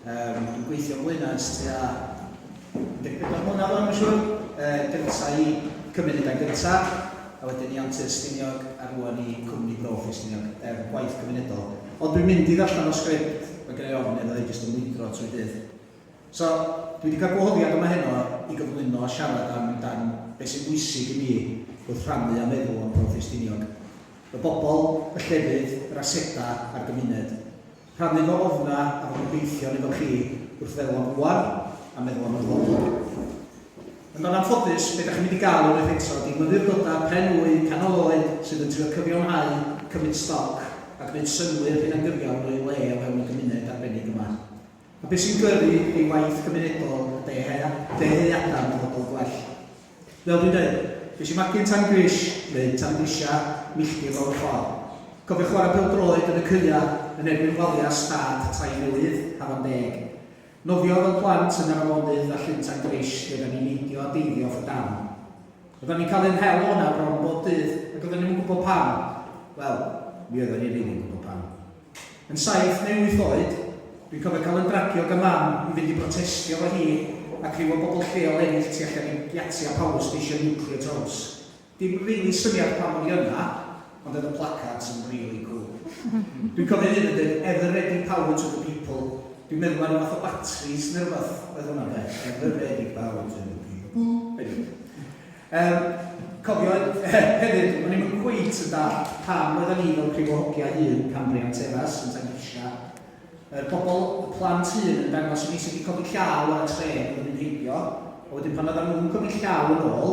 Yym, yn gweithio yn Wyn ers tua 14 mlynedd rwan mae'n siŵr. Yy, gynta i cymryd y gair gynta, a wedyn i Antur Estiniog, a rwan i Cwmni Brofi Estiniog, er gwaith cymunedol. Ond dwi'n mynd i ddarllen fy sgript, mae genna i ofn iddo hi jyst yn mwydro trwy dydd. So, dwi wedi cael gwahoddiad yma heno i gyflwyno a siarad am dan beth sy'n bwysig i mi wrth rhannu a meddwl am Brofi Estiniog. Y bobl, y llefydd, yr asedau a'r gymuned. Rhannu fy ofnau a fy ngobeithion efo chi wrth feddwl am rŵan a meddwl am y dyfodol. Ond yn anffodus, be da chi'n mynd i gael unwaith eto ydi myfyrdodau pren wy, canol oed sydd yn trio cyfiawnhau, cymryd stoc a gwneud synnwyr hunangyfiawn o'u le o fewn y gymuned arbennig yma. A be sy'n gyrru ei waith gymunedol ydi ei ddyheadau am ddyfodol gwell. Fel dwi'n deud, nes i magu'n tan grish, neu tan grisia, milltir lawr y ffordd. Cofio chwarae pêl-droed yn y caeau yn erbyn waliau stad Tair Mynydd, Hafan Deg. Nofio fel plant yn yr afonydd a llyn tan grish lle oeddan ni'n neidio a deifio off y darn. Oeddan ni'n cael ein hel o'na bron bob dydd ac oeddan ni'm yn gwybod pam. Wel, mi oeddan ni rili'n gwybod pam. Yn saith neu wyth oed, dwi'n cofio cael yn dragio gan Mam i fynd i brotestio efo hi a criw o bobl lleol eraill tu allan i giatia power station nuclear Tows. Dim rili syniad pam o'n i yna, ond oedd y placards yn rili cwl. Dwi'n cofio un yn deud Ever Ready Power to the People, dwi'n meddwl mai ryw fath o batris neu rywbeth oedd hwnna de, Ever Ready Power to the People. Yym, cofio, hefyd, o'n i'm yn cweit yn dallt pam roeddan ni fel prif o hogia un Cambrian Terrace yn tangrisia yr pobl, y plant hŷn yn dangos i ni sut i codi llaw ar y trên oedd yn mynd heibio, a wedyn pan oeddan nhw'n codi llaw yn ôl,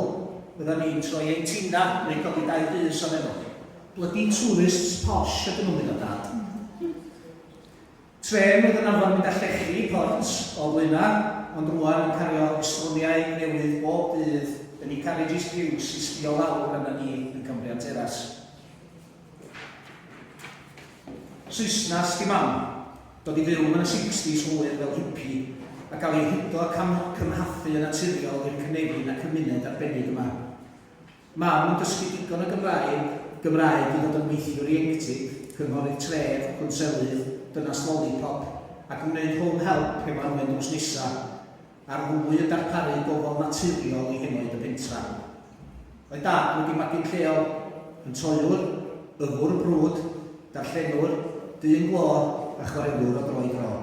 oeddan ni'n troi ein tina neu codi dau bys oddi arnoch chi. Bloody tourists posh ydyn nhw, meddai Dad. Trên oedd yn arfer mynd â llechi i Port o Blaenau, ond rŵan yn cario estroniau newydd bob dydd yn ei carriages piws i sbio lawr arna ni yn Cambrian Terrace. Saesnas di mam, dod i fyw yn y sixties hwyr fel hippie, a cael ei hudo a cam-cymhathu yn naturiol i'r cynefin a cymuned arbennig yma. Mam yn dysgu digon o Gymraeg, Gymraeg i fod yn weithiwr ieuenctid, cynghorydd tref, cwnselydd, dynas lolipop, ac yn gwneud home help hefo Anwen drws nesa, a'r ddwy yn darparu gofal naturiol i henoed y pentra. Oedd Dad wedi magu'n lleol, yn toiwr, yfwr brwd, darllenwr, dyn glo, a chwaraewr o dro i dro.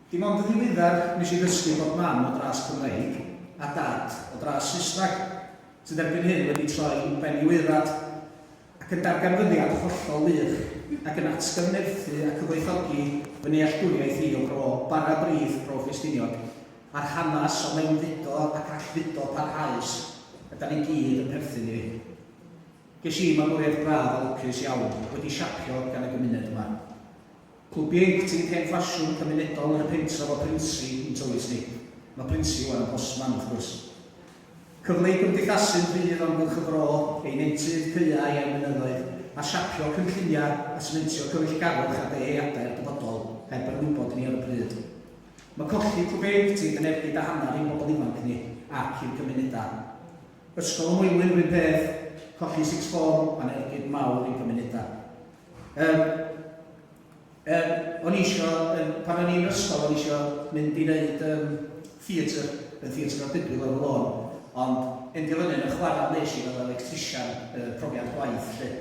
Dim ond yn ddiweddar nes i ddysgu bod Mam o dras Cymreig a Dad o dras Saesneg, sydd erbyn hyn wedi troi ben i'w aeddfad, ac yn darganfyddiad hollol wych, ac yn atgyfnerthu a cyfoethogi fy nealltwriaeth i o Bro Bara Brith, Bro Ffestiniog, a'r hanes o mewnfudo ac allfudo parhaus y da ni gyd yn perthyn iddi. Ges i magwraeth braf a lwcus iawn, wedi siapio gan y gymuned yma. Clwbiaid Tŷ Pen Ffasiwn Cymunedol Yr Pentref o Brynsi yn Tywys Nip, mae Brynsi wan Hosman wrth gwrs. Cyfle i gymdeithasu'n rhydd o amgylch y fro, ei nentydd, caeau a'i mynyddoedd, a siapio cynlluniau a sementio cyfeillgarwch a dyheadau'r dyfodol, heb yr wybod ni ar y pryd. Mae colli clwbiaid tŷ yn ergyd a hanner i'n bobl ifanc ni ac i'r gymunedau. Ysgol y Moelwyn yr un peth, colli sixth form, mae'n ergyd mawr i'n cymunedau. Yym, yym, o'n i isio, yym, pan o'n i'n ysgol, o'n i isio mynd i wneud um, theatr, yn theatr o'r Bibl ar y lôn, ond endio fyny yn y chwarae nes i fel electrician uh, profiad gwaith lle.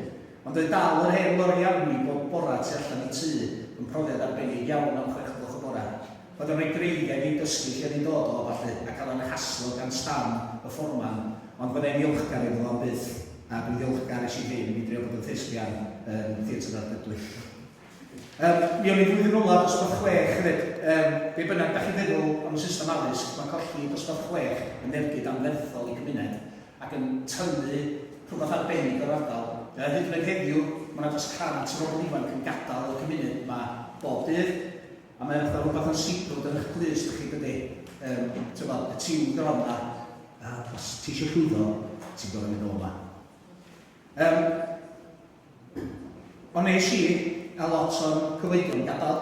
Ond oedd dal yr hen loriau i bob bora tu allan i tŷ yn profiad arbennig iawn am chwech o'cloch y bora. Oedd o'n rhoi dreigiau i dysgu lle oedd hi'n dod o a ballu, a cael yn haslo gan Stan, y fforman, ond fyddai'n ddiolchgar iddo fo am byth, a dwi'n ddiolchgar es i hyn i mi drio bod yn thespian yn Theatr Ardudwy. Yym, mi o'n i flwyddyn olaf dosbarth chwech hefyd. Yym, be bynnag dach chi'n feddwl am y system addysg, mae colli dosbarth chwech yn ergyd anferthol i gymuned, ac yn tynnu rhywbeth arbennig o'r ardal. Yy, hyd yn oed heddiw, mae 'na dros 100 o bobl ifanc yn gadael y cymuned 'ma bob dydd, A mae fatha rhywbeth yn siglo dyn eich clust chi dydy. Um, Tyfod, y tiwn gron na. A os ti eisiau llwyddo, ti'n gorau mynd o'ma. Um, ond nes i, a lot o'n cyfoedion gadael,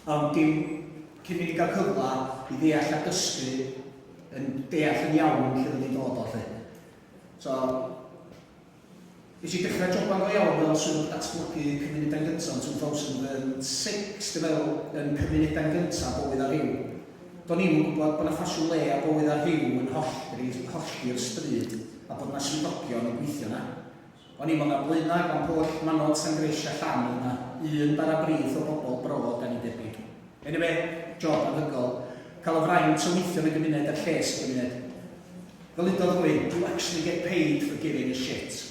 ond dim cyn mynd i gael cyfle i ddeall a dysgu yn deall yn iawn lle oedd ni'n dod o lle. So, Nes i dechrau joban go iawn fel Swyddog Datblygu Cymunedau'n Gyntaf yn 2006 dw feddwl yn Cymunedau'n Gyntaf bywyd a rhyw. Do'n i'm yn gwybod bod 'na ffasiwn le a bywyd a rhyw yn hollti hollti'r stryd a bod 'na swyddogion yn gweithio 'na. O'n i'm ond ar Blaenau, Glan-pwll, Manod, Sangrish a Llan oedd 'na un bara brith o bobl bro dan ni'n debyg. Eniwe, job anhygoel. Cael y fraint o weithio yn y gymuned a'r lles y gymuned. Fel udodd rhywun, do actually get paid for giving a shit.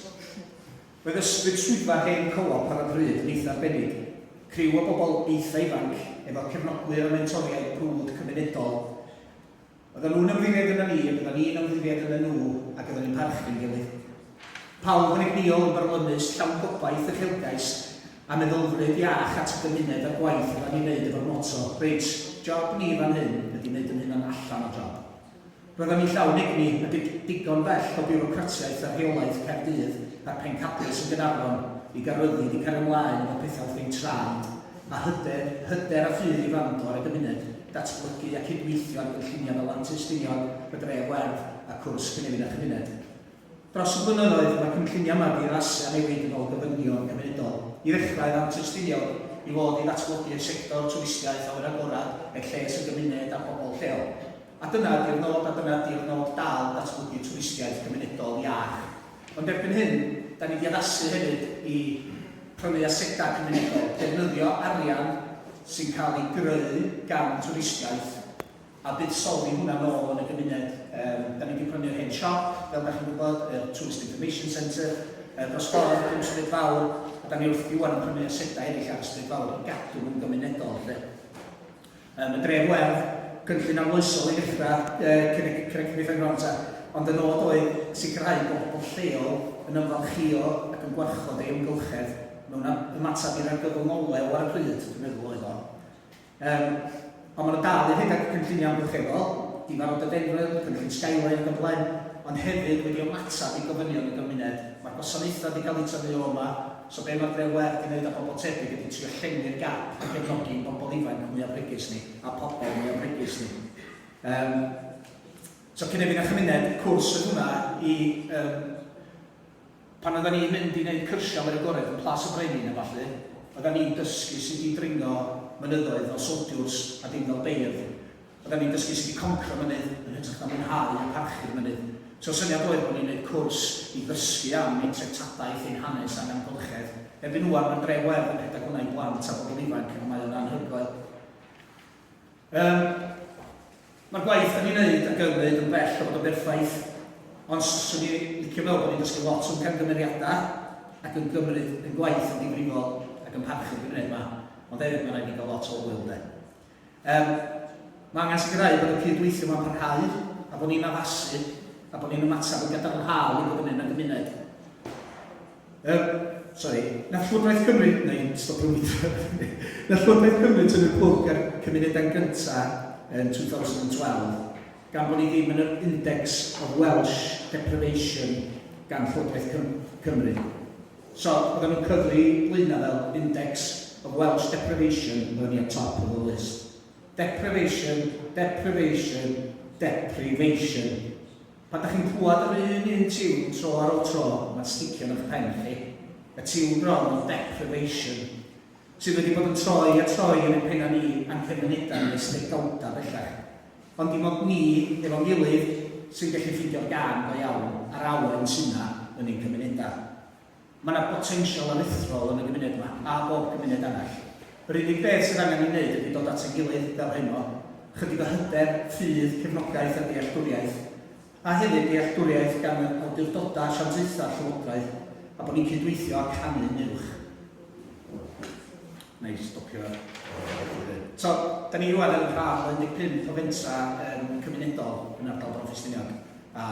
Roedd ysbryd swyddfa'r hen Co-op ar y pryd yn eitha arbennig, criw o bobl eitha ifanc efo cefnogwyr a mentoriaid brwd cymunedol. Oeddan nhw'n ymddiried yna ni, oeddan ni'n ymddiried yna nhw ac oeddan ni'n parchu'n gilydd. Pawb yn egnïol yn byrlymus, llawn gobaith, uchelgais a meddylfryd iach at y gymuned a'r gwaith oeddan ni'n neud efo'r moto, reit, job ni fan hyn ydi neud yn hunan allan o job. Roedd o'n ei llawn egni a dig- digon bell o biwrocratiaeth a rheolaidd Caerdydd a'r pencadlys yn Gaernarfon i gael rhyddid i cario ymlaen efo pethau wrth ein traed, a hyder, hyder a ffydd i wrando ar y gymuned, datblygu a cydweithio ar gynlluniau fel Mantys Ffiniog, y Dref Werdd a Cwrs Cynefin a Chymuned. Dros y blynyddoedd, mae cynlluniau magu yn Asia newid yn ôl gofynion cymunedol. I ddechrau, yr antrystuniwyd i fod i ddatblygu y sector twristiaeth a oedd yn agored er lles y gymuned a phobl lleol. A dyna ydy'r nod, a dyna ydy'r nod dal, datblygu twristiaeth gymunedol iach. Ond erbyn hyn, da ni wedi addasu hefyd i prynu asedau cymunedol, defnyddio arian sy'n cael ei greu gan twristiaeth, a buddsoddi hwnna nôl yn y gymuned. Yym, 'da ni 'di prynu yr hen siop, fel 'da chi'n gwybod, y Tourist Information Centre, yy, dros ffordd o Cwm Stryd Fawr, a 'da ni wrthi ŵan yn prynu asedau eraill ar y Stryd Fawr i gadw yn gymunedol, 'lly. Yym, y Dref Werdd, cynllun arloesol i ddechrau, yy, cyn y Craig Wyddfai Bron 'ta, ond y nod oedd sicrhau bod pobl lleol yn ymfalchïo ac yn gwarchod ei amgylchedd mewn ymateb i'r argyfwng olew ar y pryd, dwi'n meddwl, oedd o. Yym, ond mae 'na dal i redeg cynlluniau amgylcheddol, difa'r Rhododendron, cynllun Skyline ac yn blaen, ond hefyd wedi ymateb i gofynion y gymuned. Mae'r gwasanaethau 'di cael eu tynnu o yma, so be mae'r Dre Wledd 'di wneud a bobl tebyg ydi trio llenwi'r gap a gefnogi ein bobl ifanc mwya bregus ni a pobl mwya bregus ni. Yym, so cynefin a chymuned, cwrs yn hwnna i yym, Pan oeddan ni'n mynd i neud cyrsia mewn agored yn Plas y Brenin a ballu, oeddan ni'n dysgu sut i dringo mynyddoedd fel soldiwrs a dim fel beirdd. Oeddan ni'n dysgu sut i concro mynydd yn hytrach na mwynhau a parchu'r mynydd. So'r syniad oedd bo' ni'n neud cwrs i ddysgu am ein treftadaeth, ein hanes a'n amgylchedd. Erbyn ŵan, ma'n dref werdd yn rhedeg hwnna i blant a bobl ifanc a mae o'n anhygoel. Yym, mae'r gwaith da ni'n neud a gymryd yn bell o fod yn berffaith, ond 'swn i licio meddwl bod ni'n dysgu lot o'n camgymeriadau ac yn gymryd ein gwaith yn ddifrifol ac yn parchu'r gymuned 'ma, ond hefyd mae raid ni gael lot o ŵyl 'de. Yym, mae angen sicrhau bod y cyd-weithio 'ma'n parhau a bod ni'n addasu a bod ni'n ymateb yn gadarnhaol i bob un yn y gymuned. Er, sori, na Llywodraeth Cymru, na i'n stopio weithio, na Llywodraeth Cymru tynnu'r plwg ar cymunedau'n gyntaf yn 2012, gan bod ni ddim yn yr Index of Welsh Deprivation gan Llywodraeth Cymru. So, oedden nhw'n cyfri Blaenau fel Index of Welsh Deprivation, oedden ni at top of the list. Deprivation, deprivation, deprivation. Pan dach chi'n clywed yr un un tiwn tro ar ol tro, ma'n sticio yn ych pen chi. Y tiwn bron o deprivation, sydd wedi bod yn troi a troi yn ein penna ni a'n cymunedau ni ers degawda bellach. Ond dim ond ni, efo'n gilydd, sy'n gallu ffeindio'r gân go iawn a'r awen sy' 'na yn ein cymunedau. Mae 'na botensial aruthrol yn y gymuned 'ma, a bob cymuned arall. Yr unig beth sydd angen ei wneud ydy dod at ein gilydd fel heno, chydig o hyder, ffydd, cefnogaeth a dealltwriaeth, a hefyd dealltwriaeth gan yr awdurdodau asiantaethau'r llywodraeth, a bod ni'n cydweithio a canu yn uwch. Nai stopio lle. So, da ni rwan yn rhan o 15 o fentra um, cymunedol yn ardal Bro Ffestiniog, a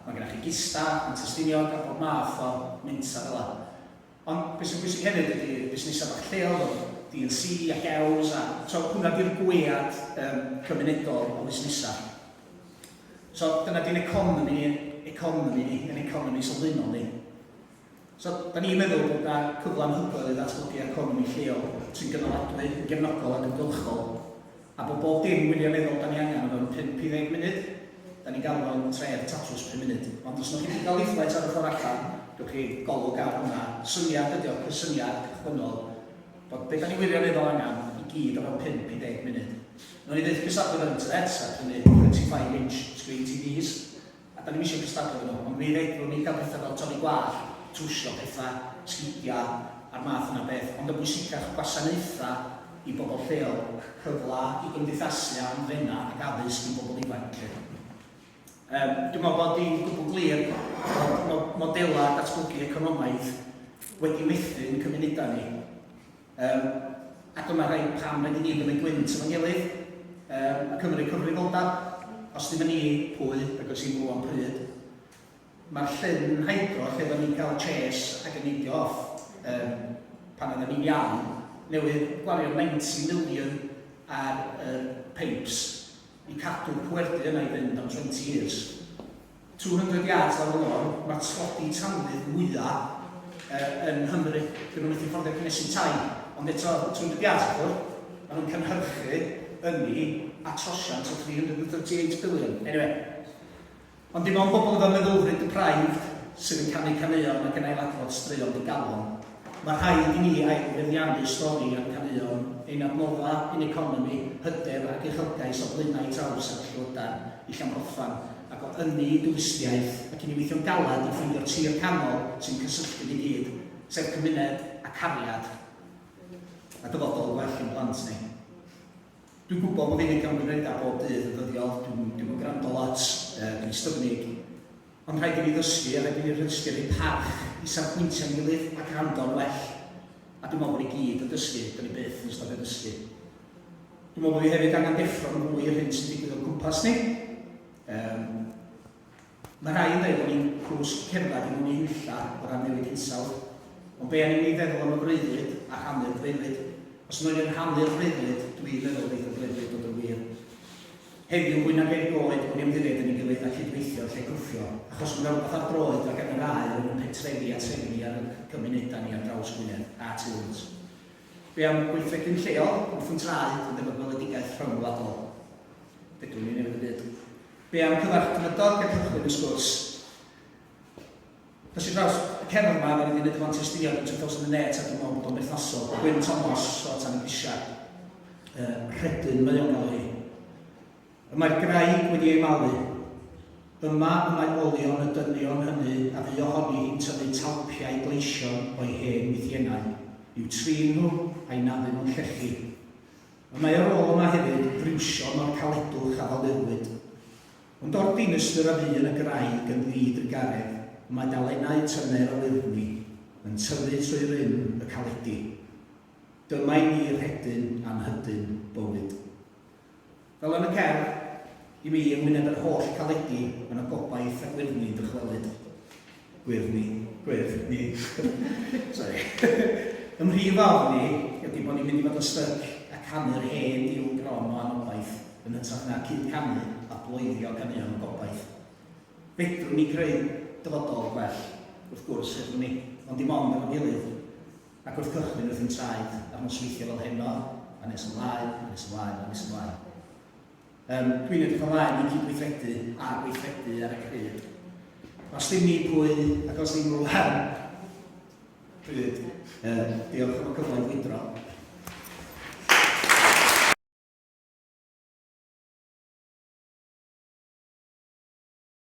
mae gennych chi gista, mae testiniog a bob math o mentra fel yna. Ond beth sy'n bwysig hefyd ydy busnesau bach lleol fel DNC a Hews, a so, hwnna di'r gwead um, cymunedol o fusnesau. So, dyna di'n economi, economi ni, yn economi sylfaenol ni. So, da ni'n meddwl bod yna cyfle anhygoel i ddatblygu economi lleol sy'n gynaladwy, yn gefnogol ac yn gylchol, a bod bob dim wirioneddol da ni angen o fewn 50 munud, da ni'n galw fo'n tref tatws pum munud. Ond os wnewch chi brynu leaflet ar y ffordd allan, gewch chi golwg ar hwnna. Syniad ydy o, cysyniad cychwynnol, bod be da ni wirioneddol angen i gyd o fewn 50 munud. Wnawn ni fyth cystadlu efo'r internet, ac hynny 25 inch screen TVs, A dan ni'm isio cystadlu efo nhw, ond mi fedrwn ni gael pethau fel torri gwallt, trwsio pethau, sgidiau a'r math yna o beth, ond yn bwysicach, gwasanaethau i bobl lleol, cyfle i gymdeithasu a hamddenau ac addysg i bobl ifanc felly. Yym, dwi'n meddwl bod hi'n gwbl glir bod modelau datblygu economaidd wedi methu'n cymunedau ni. Yym, a dyma rhaid pam rydyn ni yn gymryd gwynt efo'n gilydd, yym, a cymryd cyfrifoldab. Os ddim yn ni, pwy, ac os ddim rŵan am pryd? Mae'r llyn hydro lle oedden ni'n cael chase ac yn neidio off, yym, pan oedden ni'n iawn, newydd gwario 90 million ar yr pipes i cadw'r pwerdy yna i fynd am 20 years. 200 yards ar y lôn, mae'r tlodi tanwydd mwya yy yn Nghymru. Dyn nhw methu fforddio cynnesu tai, ond eto 200 yards wrth gwrs, maen nhw'n cynhyrchu ynni a trosiant o 338 billion. Anyway. Ond dim ond pobl efo meddylfryd deprived sydd yn canu caneuon ac yn ailadrodd straeon digalon. Mae rhaid i ni ail-feddiannu stori a'n caneuon, ein adnoddau, ein economi, hyder ac uchelgais o flaenau taw'r sefyllfa llywydr i Llanfodfan, ac o ynni i dwristiaeth, ac i ni weithio'n galed i ffeindio'r tir canol sy'n cysylltu ni gyd, sef cymuned a cariad a dyfodol gwell i'n plant ni. Dwi'n gwybod bod fi 'di cymryd credad bob dydd yn ddyddiol, dwi'm yn gwrando lot, dwi'n styfnig. Ond rhaid i fi ddysgu a rhaid i fi rhysgio'r un parch i safbwyntiau'n gilydd a gwrando'n well. A dwi'n meddwl bod ni gyd yn dysgu, dan ni byth yn stopio dysgu. Dwi'n meddwl bod ni hefyd angen deffro yn fwy i'r hyn sy'n digwydd o'n cwmpas ni. Um, mae rhai yn dweud bod ni'n cwsg cerdded i mewn i hunlla o ran newid hinsawdd, ond be angen ni feddwl am y freuddwyd a rhannu'r freuddwyd. Os yna rhanu'r freuddwyd, dwi'n meddwl bydd y freuddwyd bod yn wir. Heddiw, fwy nag erioed, bod ni ymddiried yn ei gilydd a cydweithio lle gwthio, achos mae 'na rywbeth ar droed ar gael yn dda i rhwng ein pentrefi a trefi ni a'n cymunedau ni ar draws Gwynedd a tu hwnt. Be am weithredu'n lleol, wrthi'n traed, ond efo gweledigaeth rhyngwladol? Fedrwn ni newid y byd. Be am cyfarch drydog a cychwyn y sgwrs? Ar draws y cefn 'ma, ro'n i 'di neud y font estyniad yn Two Thousand and Eight a dwi'n meddwl bod o'n berthnasol. Gwyn Thomas o Tan y Grisiau. Yy, rhedyn mae o'n galw hi. Y mae'r graig wedi ei malu. Yma y mae olion y dynion hynny a fu ohoni hi'n tyfu talpiau gleision o'i hen wythiennau, i'w trin nhw a'i naddu nhw'n llechi. Y mae ar ôl yma hefyd friwsion o'r caledwch a falurwyd. Ond o'r dinistr a fu yn y graig yn ddrud yn garreg, mae dalennau tyner o lurni yn tyfu trwy rym y caledi. Dyma i mi rhedyn a mhydyn bywyd. Fel yn y cerdd, i mi, yng ngwyneb yr holl caledi, mae 'na gobaith a gwyrddni yn dychwelyd. Gwyrdd ni. Gwyrdd ni. Sorry. Ym mhrif ofn ni ydy bod ni'n mynd i fod yn styc a canu'r hen diwn gron o anobaith yn hytrach na cyd-canu a bloeddio caneuon o gobaith. Fedrwn ni greu dyfodol gwell, wrth gwrs, fedrwn ni, ond dim ond efo'n gilydd, ac wrth gychwyn wrth i'n traed a'r nosweithiau fel heno, a nes ymlaen, a nes ymlaen, a nes ymlaen. Yym, dwi'n edrych ymlaen i gydweithredu a gweithredu ar y cyd. Os dim ni pwy, ac os dim nhw hen. Pryd. Yy, diolch am y cyfle i wydro.